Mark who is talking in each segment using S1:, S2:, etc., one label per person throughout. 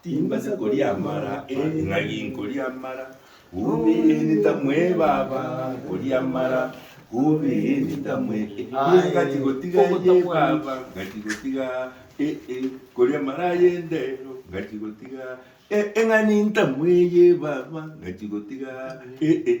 S1: Timbasa koria amara eh, ng'ai nkoria amara Hubi nita mwe baba nkoria amara Hubi nita mwe eh, aye ngati gotiga ye baba ngati gotiga eh, eh, koria amara ye ndero ngati gotiga eh, eh, ng'ani nta mwe ye baba ngati gotiga eh, eh.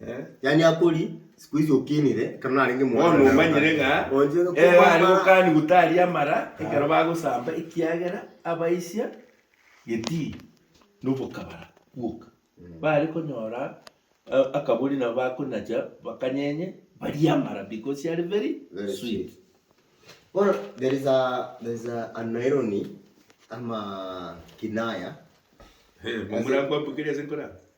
S2: Eh, yani akori siku hizi okinire ekero narenge mwana Bono naro omanyire kare. ng'a
S1: Onje ere ere are kwamara- gokani gotari amara ekero bagosamba ekiagera abaisia getii nobokabara bwoka bare konyora eh, akabori nabo bakonacha bakanyenye barie amara because are very Very sweet sweet. Bono
S2: there is a there is a an irony ama kinaya.
S1: Murakwambokeria ase nkora.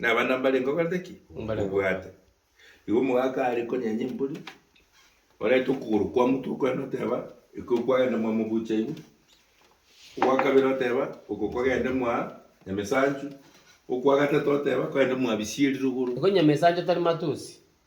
S1: Na abana mbarenge okorete ki? Mbarenge Obwate. Igo omogaka are konyenya embori, orete okogoro kwa motwe kwene oteba, ekio kwagenda mwa mobucha igo, ogwa kabere oteba, oko kwagende mwa Nyamesanchu, okwa gatato oteba, kwagende mwa Bisieri rogoro. Igo Nyamesanchu tari
S3: matusi,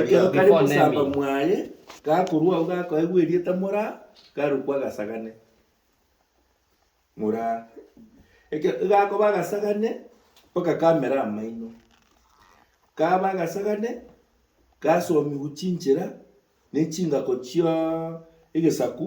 S1: Ekero kare mosamba mwaye gakorwa agwo gakoegwa erieta Moraa, garokwa agasagane. Moraa. Ekero egakoba agasagane, mpaka kamera amaino. Kaba agasagane, gasomigwa chinchera ne chingako chia egesaku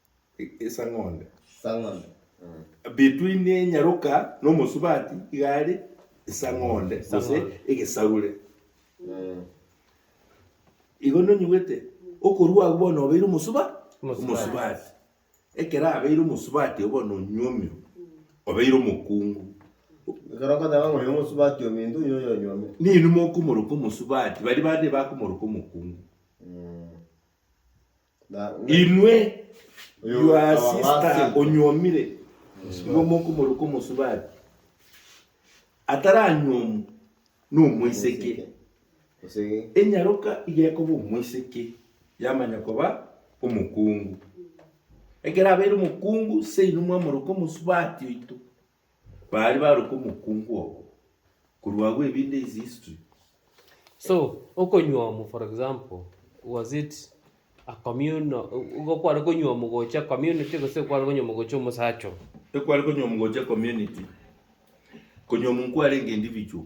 S2: esang'onde.
S1: Esang'onde.
S2: Mm. Between
S1: enyaroka n'omosubati igare esang'onde gose egesarure. Mm. Igo nonyigwete okorua agwo bono obeire omosuba omosubati. Ekero abeire omosubati obo bono onywa omiro obeire omokungu. Ekero
S2: okoteba ng'a oyo omosubati ominto oyo oyo onywa omiro. Ninwe mokomoroka
S1: omosubati baria bande bakomoroka omokungu. Mm. Inwe your sister onyuomire, nyuoma okomoruka omosubati, ataranyuomu nomoiseke, enyaroka igekoba omoiseke yamanya koba omokungu. Ekero abeire omokungu, seino mwamoruka omosubati oito. Baria baruka omokungu obo. Korwa agwo ebinde is history. So
S3: okonywa omo for example was it a communal igo kware konywa omo gocha community gose kware konywa omo gocha omosacha oo? Ekware konywa omo
S1: gocha community. Konywa omo nkware enga individual.